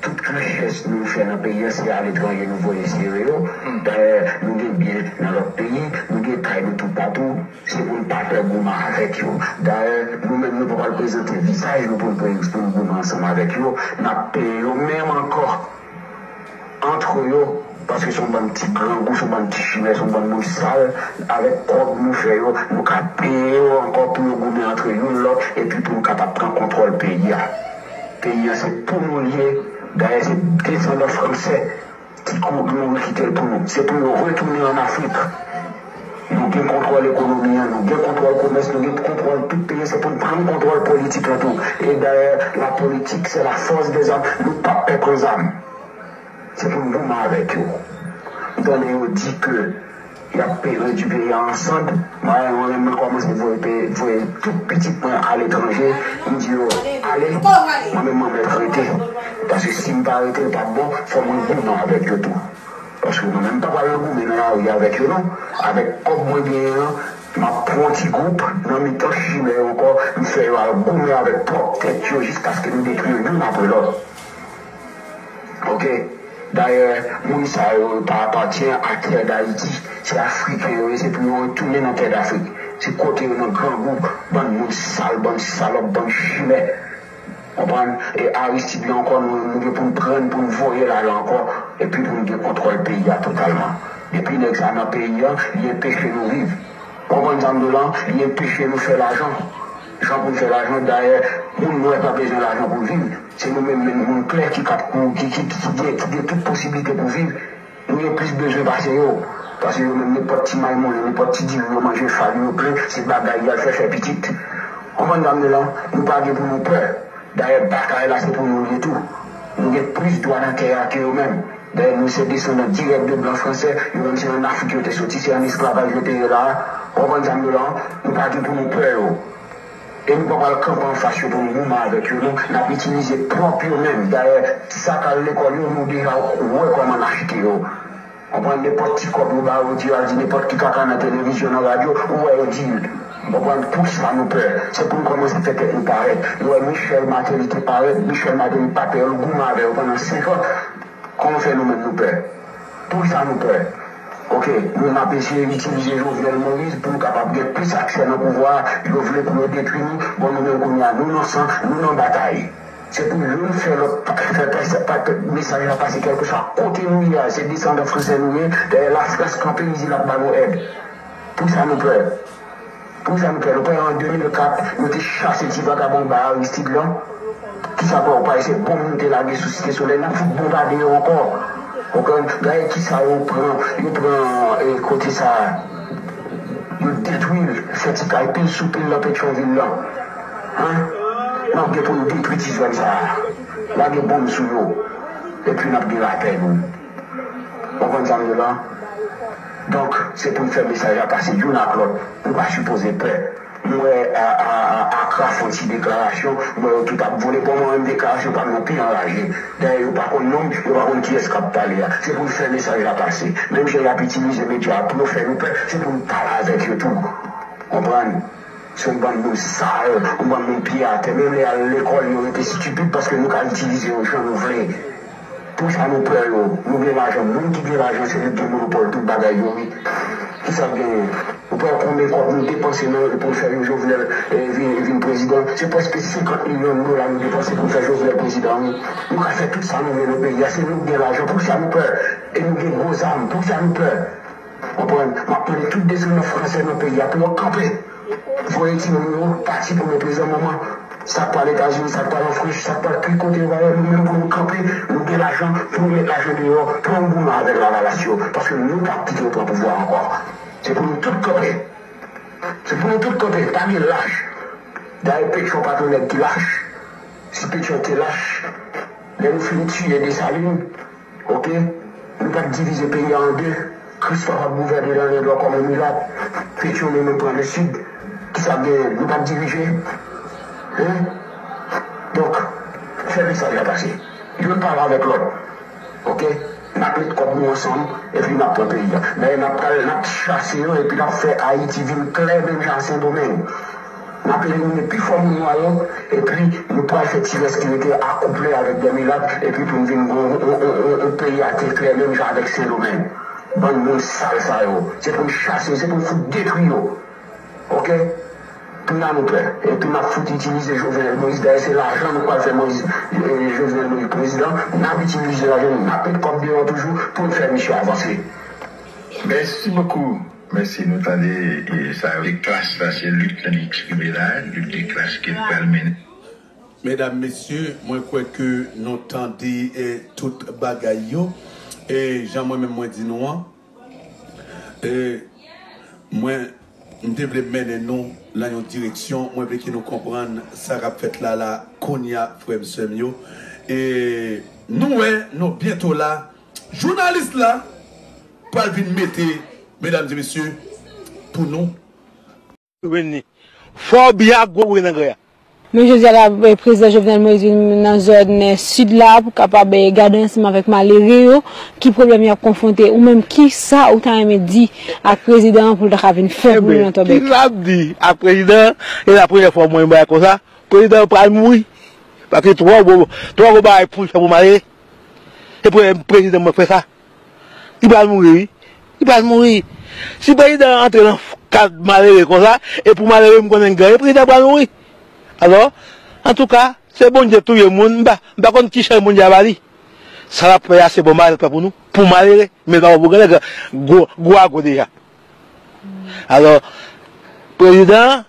Tout richès nou fè nan peyi an se aletranje nou voye sere yo. Dayè nou gen byen nan lòt peyi, nou gen kay nou toupatou, se pou n pa pè goumen avèk yo. Dayè nou menm nou pa pral prezante vizaj nou pou n pou n goumen ansanm avèk yo, n ap peye yo menm ankò antre yo paske se yon bann ti grangou, se yon bann ti chimè, se yon bann moun sal. Avèk kòb nou fè yo, nou ka peye yo ankò pou yo goumen antre youn lòt epi pou n kapab pran kontwòl peyi a. Peyi a se pou nou li ye, dayè se desandan fransè ki mouri kite l pou nou. Se pou yo retounen an Afrik. Nou gen kontwòl ekonomi an, nou gen kontwòl komès, nou gen kontwòl tout peyi an, se pou n pran kontwòl politik lan tou. E dayè la politik se la fòs dè zam, nou pap pè pran zam. Se pou n goumen avèk yo. M tande yo di ke y ap redui peyi a an sand. Mwen al mwen menm mwen kòmanse voye peyi voye tout pitit mwen aletranje. M di yo ale mwen menm mwen mèt rete. Paske si m pa rete l pap bon fò mwen goumen avèk yo tou. Paske mwen menm m pa pral nan goumen nan lari avèk yo non. Avèk kòb mwen genyen an m ap pran yon ti gwoup nan mitan chimè yo ankò m fè yo al goumen avèk pwòp tèt yo jiskaske nou detwi yo youn apre lòt. Ok dayè moun sa yo yo pa apatyen a tè dayiti se afriken yo ye se pou yo retounen nan tè dafrik se kote yo nan grangou bann moun sal bann salòp bann chimè konprann e aristid la ankò nou nou gen poun prann poun voyel ale ankò epi poun gen kontròl peyi a totalman depi nèg sa nan peyi an li enpeche nou viv ou konprann sa mdou la li enpeche nou fè lajan jan poun fè lajan dayè moun nwè pa bezwen lajan poul viv. Se nou menm menm moun klè ki kap moun ki ki ki gen ki gen tout posiblite pou viv nou gen plis bezwen pase yo pase yo menm nenpòt ti maymolen nenpòt ti diri yo manje fagi yo plen se bagay yal fè fè pitit konprann sa m di la nou pa gen pou nou pè dayè batay la se pou nou l ye tou nou gen plis dwa nan tè a ke yo menm dayè nou se desandan dirèk de blan fransè yo menm se an afrik yo te soti se an esklavaj yo te ye la a konprann sa m di w la nou pa gen pou nou pè yo. E nou pa pral kanpe anfas yo pou nou goumen avèk yo non, n ap itilize pwòp yo menm. Dayè, ti sa k al lekòl yo, nou deja wè kòman n achete yo. Ou pran nenpòt ti kòb yo ba ou, ou di yo al di nenpòt ki kaka nan televizyon, nan radyo, ou wè yo di l. Ou konprann? Poukisa nou pè? Se pou nou kòmanse fè tèt nou parèt. Nou wè Michel Martelly te parèt, Michel Martelly pa pè yo, l goumen avè yo pandan senkan. Kòman fè nou menm nou pè? Poukisa nou pè? Ok, nou menm ap eseye itilize Jovenel Moïse pou nou kapab gen plis aksè nan pouvwa a, yo vle pou yo detwi nou, bon nou menm kounye a nou nan san, nou nan batay. Se pou youn fè lòt fè pè, mesaj la pase kèlkeswa kote nou ye a, se desandan fransè nou ye, dèyè lafrans kanpe li di l ap ba nou èd. Poukisa nou pè? Pou sa m fè l, ou kwè an 2004 yo te chase ti vagabon anba Aristide lan? Ki sa kwè ou pa wè se bonm nou te lage sou Site Solèy, n ap fout bonm pa deyò ankò. Ou konprann? Gade ki sa yo pran, yo pran kote sa a, yo detwi l, fè ti kay pil sou pil nan Petyonvil lan. An! N ap gen pou n detwi ti zòn sa a, lage bonm sou yo epi n ap gen lapè nou. Ou konn sa m ye la? Donk se pou n fè mesaj la pase youn ak lòt. Nou pa sipoze pè. M wè Acra fè yon ti deklarasyon, m wè yo tout ap vole. Bon mwen menm deklarasyon pa m nan pi anraje. Dayè yo pa konn non m, yo pa konn kiyès k ap pale a. Se pou n fè mesaj la pase. Menm jan y ap itilize medya a pou yo fè nou pè, se pou n pale avèk yo tou. Konprann? Se yon bann moun sal, yon bann moun pye atè. Menm lè y al lekòl yo rete stipid paske nou ka itilize yo jan nou vle. Pou sa nou pran yo, nou gen lajan moun ki gen lajan se li ki gen monopòl tout bagay yo wi ki sa genyen ou pran konbyen kòb nou depanse nan pou n fè yon Jovenel vin prezidan se prèske 50 milyon dola nou depanse pou n fè Jovenel prezidan wi nou ka fè tout sa nou vle nan peyi a se nou ki gen lajan pou ki sa nou pè e nou gen gwo zam pou ki sa nou pè. Konprann, m ap pale tout desandnan franse nan peyi a pou yo kanpe, voye timoun yo pati pou le prezan moman. Sa k pral Etazini, sa k pral an Frans, sa k pral tout kote yo va ye, nou menm pou nou kanpe, nou gen lajan pou nou met lajan deyò, pou nou goumen avèk lavalas yo, paske nou p ap kite yo pran pouvwa a ankò. Se pou nou tout kanpe. Se pou nou tout kanpe. Pa gen lach. Dayè Petyon pa t yon nèg ki lach. Si Petyon te lach, lè nou fin tiye Desalin, Ok Nou pap divize peyi a an 2 Christophe ap gouvène lan le nò kòm on milat Pétionne nou pran le sud kisa gen nou pap dirije hein donk fè mesaj la pase Youn pale avèk lòt ok nap met kòb nou ansanm epi nap pran peyi a men nap pral nap chase yo epi nap fè Haïti vin klè menm jan a sendomeng. N ap elimine pi fò moun nwa yo, epi yo pral fè ti rès ki rete a kouple avèk dè milat, epi pou n vin gen yon peyi ate klè menm jan avèk Sendomeng. Bann moun sal sa yo. Se pou n chase yo, se pou n fout detwi yo. Ok? Tounan nou pè. Epi n ap fout itilize Jovenel Moïse. Dayè se lajan nou pral fè Moïse, Jovenel Moïse prezidan. N ap itilize lajan nou, n ap met kòb deyò toujou pou n fè misye avanse. Mèsi bokou. Mèsi nou tande sa yo se klas la se lit li eksprime la lit de klas ke li pral mennen. Medam mesye mwen kwè ke nou tande tout bagay yo e jan mwen menm mwen di nou an e mwen m te vle mennen nou lan yon direksyon mwen vle ke nou konprann sa kap fèt la la kounya frèm sèm yo e nou wè nou byento la Jounalis la pral vin mete medam e mesye pou nou. Renni. Fò w byen ak gwo bri nan gre a. Men jodi a la, Prezidan Jovenel Moïse vin nan zòn Sid la pou kapab gade ansanm avèk malere yo ki pwoblèm y ap konfwonte. Ou menm ki sa ou ta renmen di ak Prezidan an pou l ta ka vin fè pou nou nan Tòbèk? Ki sa m di ak Prezidan an? E la premyè fwa m wè yon bagay konsa. Prezidan an pral mouri. Paske twò gwo bagay pou l fè pou malere. Se premye prezidan mwen k fè sa. Li pral mouri wi. Li pral mouri. Si prezidan an antre nan ka malere konsa, e pou malere m konnen l genyen, prezidan an pral mouri. Alò, antouka, se Bondye k touye moun, m pa konn ki chay Bondye a ba li. Sa l ap fè a se bon bagay l ap fè pou nou, pou malere, men l pa fè pou grannèg lan, gwo a gwo deja. Alò, prezidan an,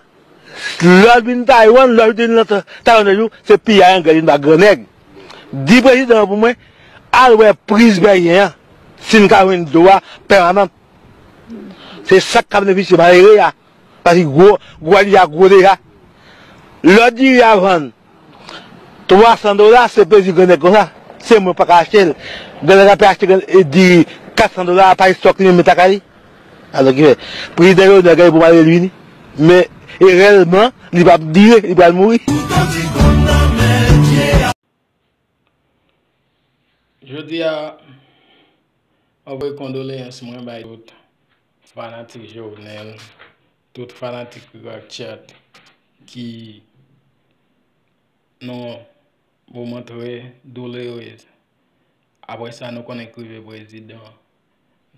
lè l vin Taywann, lè l vin nan Taywann yon jou, se piyay anglè vin ba grannèg. Di prezidan an pou mwen al wè priz Beryen an si n ka jwenn dlo a pèmanant. Se sa k ka benefisye malere a paske gwo a li a gwo deja. Lò diri a vann 300 dola se plezi grannèg konsa. Se mwen pa ka achte l. Grannèg la pe achte diri 400 dola a pa estòk li menm lakay li. Alò ki fè prezidan Jovenel gen pou mare l vini men e rèlman li pa p dire li pral mouri. Jodi a map voye kondoleyans mwen bay tout fanatik Jovenel, tout fanatik Rirak Chat ki nan yon moman trè doulourez apre sa nou konnen k rive prezidan.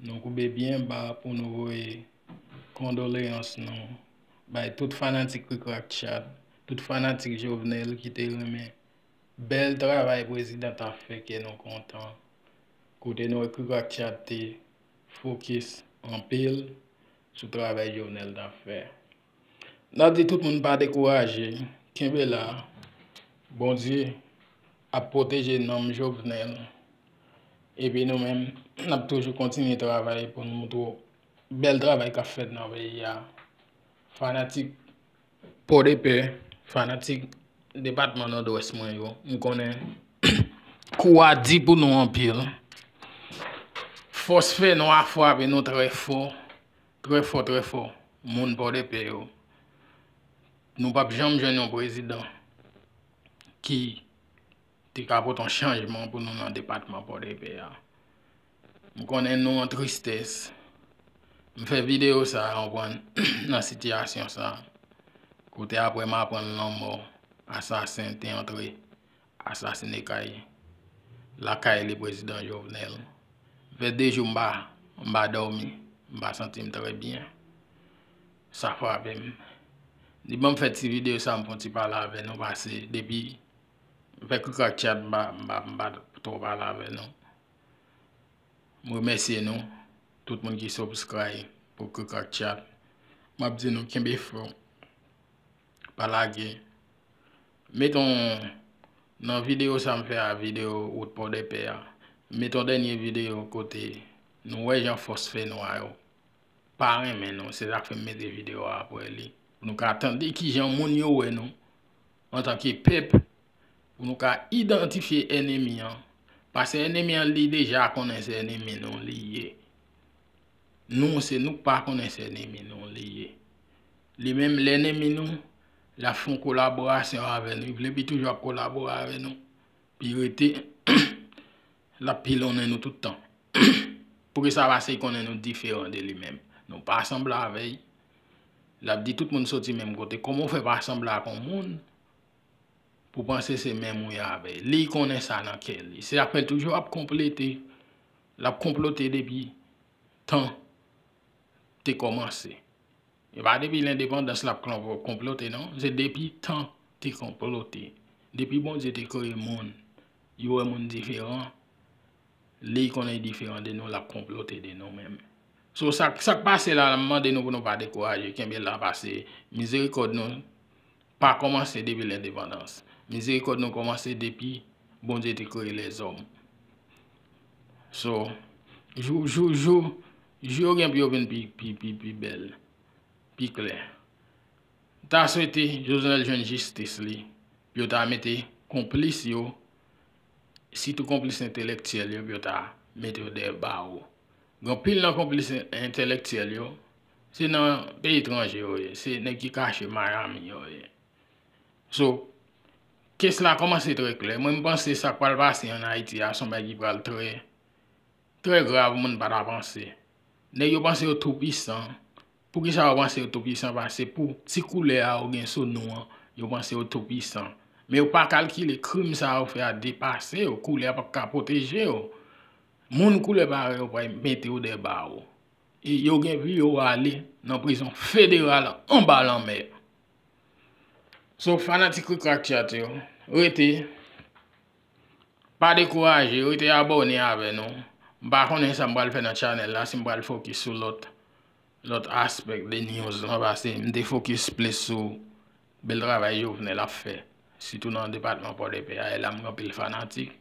Nou koube byen ba pou nou voye kondoleyans nou bay tout fanatik Krikrakchat, tout fanatik Jovenel ki te renmen bèl travay prezidan tap fè kè nou kontan kote nou wè Krikrakchat te fokis anpil sou travay Jovenel tap fè. Nap di tout moun pa dekouraje kenbe la Bondye ap pwoteje nanm Jovenel epi nou menm nap toujou kontinye travay pou nou montre w bèl travay kap fèt nan peyi a fanatik pòdepè fanatik depatman nòdwès mwen yo m konnen kou a di pou nou anpil fòs fènwa fwape nou trè fò Trè fò trè fò moun pòdepè yo nou pap janm jwenn yon prezidan ki te ka pote yon chanjman pou nou nan depatman pòdepè a m konnen nou an tristès m fè videyo sa konprann nan sitiyasyon sa kote aprè m aprann lanmò asasen te antre Asasine kay lakay li prezidan Jovenel. Vè 2 jou mpa mpa dòmi, mpa santim trè byen. Sa frapem. Li banm fè ti video sa mfon ti pale avè nou pase depi vè krikrak chat mpa mpa mpa twò pale avè nou. Mremèsye nou tout moun ki subscribe pou krikrak chat. Map di nou kenbe fèm. Pa lage. Met on Nan video sa m fè a video wout pòdèpè a met on dènye video kote nou wè jan fòs fè nwa yo pa renmen nou se sak fè m mete video a aprè li pou nou ka tande kijan moun yo wè nou antanke pèp pou nou ka idantifye ènemi an pase ènemi an li deja konnen se ènemi nou li ye nou se nou k pa konnen se ènemi nou li ye Li menm lènemi nou, l ap fè yon kolaborasyon avè nou. Li vle pi toujou ap kolabore avè nou. Pi rete, l ap pilonnen nou tout tan. Pou ki sa? Pase li konnen nou diferan de li menm. Nou pa sanble avè l. L ap di tout moun soti menm kote. Kòman ou fè pa sanble ak yon moun pou w panse se menm ou ye avè l? Li konnen sa nan kè li. Se sa k fè l toujou ap konplete. L ap konplote depi tan te kòmanse. E pa depi lendepandans l ap konplote non. Se depi tan te konplote. Depi Bondye te kreye moun, li wè moun diferan. Li konnen li diferan de nou, l ap konplote de nou menm. So sa k pase la, m mande nou pou nou pa dekouraje. Kenbe la pase mizerikòd nou. pa kòmanse depi lendepandans. Mizerikòd nou kòmanse depi Bondye te kreye lèzòm. So, jou, jou, jou, jou yo gen pou yo vin pi, pi, pi, pi bèl, pi klè. M ta swete Jovenel jwenn jistis li, pou yo ta mete konplis yo, sitou konplis entelektyèl yo pou yo ta mete yo dèyè bawo. Gen anpil nan konplis entelektyèl yo. Se nan peyi etranje yo ye, se nèg ki kache Miami yo ye. So, kes la kòmanse trè klè. Mwen m panse sa k pral pase an Ayiti a se yon bagay ki pral trè, trè grav moun pa ta panse. Nèg yo panse yo tou pisan. Poukisa yo panse yo tou pisan? Pase pou ti koulè a yo gen sou nou an, yo panse yo tou pisan. Men yo pa kalkile krim sa yo fè a depase yo, koulè a pap ka pwoteje yo. Moun koulè parèy ou pral mete yo dè bawo. E yo gen vi yo ale nan prizon federal anba lanmè. So fanatik Krikrak Chat yo, rete, pa dekouraje, rete abòne avè nou. M pa konnen sa m pral fè nan channel la, si m pral fokis sou lòt aspect de news lan pase m te fokis plis sou bèl travay Jovenel ap fè sitou nan depatman Pòdepè a e la m gen anpil fanatik.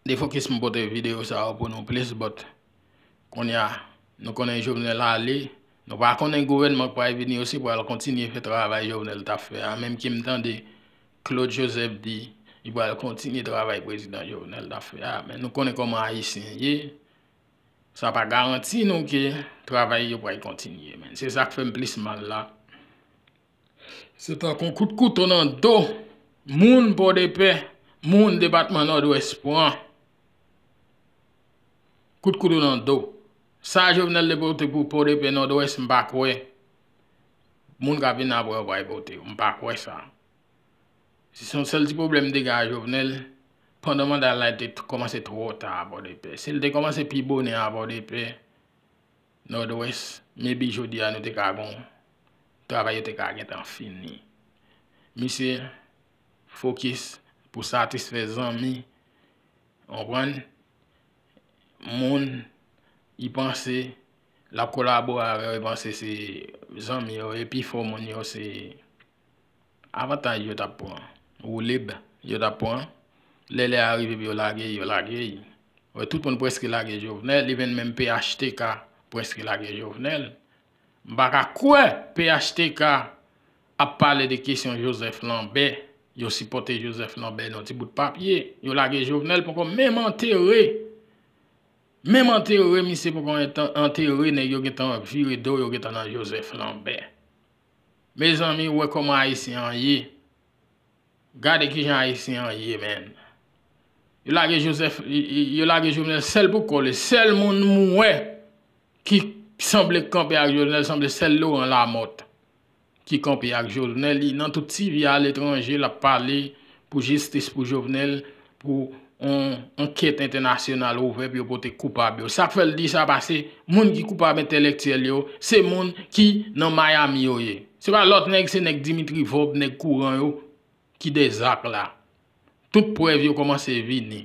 Defokis m pote video sa yo pou nou plis but. Konnya nou konnen Jovenel ale, nou pa konnen gouvènman k pral vini yo si pral kontinye fè travay Jovenel t ap fè a menm ke m tande Claude Joseph di li pral kontinye travay prezidan Jovenel t ap fè a men nou konnen kòman ayisyen ye sa pa garanti nou ke travay yo pral kontinye men se sa k fè m plis mal la. Se tankou kout kouto nan do moun Pòdepè, moun depatman Nòdwès pran. Kout kouto nan do. Sa Jovenel te pote pou Pòdepè, Nòdwès, m pa kwè moun k ap vin apre yo pral pote yo. M pa kwè sa. Se yon sèl ti pwoblèm m te gen ak Jovenel, pandan manda l la, li te kòmanse twò ta a Pòdepè. Si l te kòmanse pi bonè a Pòdepè, Nord-Ouest maybe jodi a nou te ka gon travay yo te ka gentan fini. Misye fokis pou satisfè zanmi, konprann, moun li panse lap kolabore avè yo, li panse se zanmi yo, e pifò moun yo se. Avantaj yo tap pran. Woulib yo tap pran. Lè lè a rive pou yo lage, yo lage. Wè tout moun preske lage Jovenel. Li menm menm phtk preske lage Jovenel. M pa ka kwè phtk ap pale de kesyon Joseph Lambert. Yo sipote Joseph Lambert nan ti bout papye. Yo lage Jovenel poko menm antere. Menm antere misye poko antere nèg yo gentan vire do yo gentan nan Joseph Lambert. Mezanmi ou wè kòman ayisyen an ye gade kijan ayisyen an ye menn yo lage joseph yo lage jovenel sèl pou kò li sèl moun m wè ki sanble k kanpe ak jovenel sanble sèl laurent lamothe ki kanpe ak jovenel li nan tout tv a letranje lap pale Pou jistis pou Jovenel, pou on ankèt entènasyonal ouvè pou yo pote koupab yo. Sak fèl di sa pase moun ki koupab entèlèktyèl yo, se moun ki nan Miami yo ye. Se pa lòt nèg se nèg Dimitri Vorb, nèg kouran yo ki dè zak la. Tout prèv yo kòmanse vini.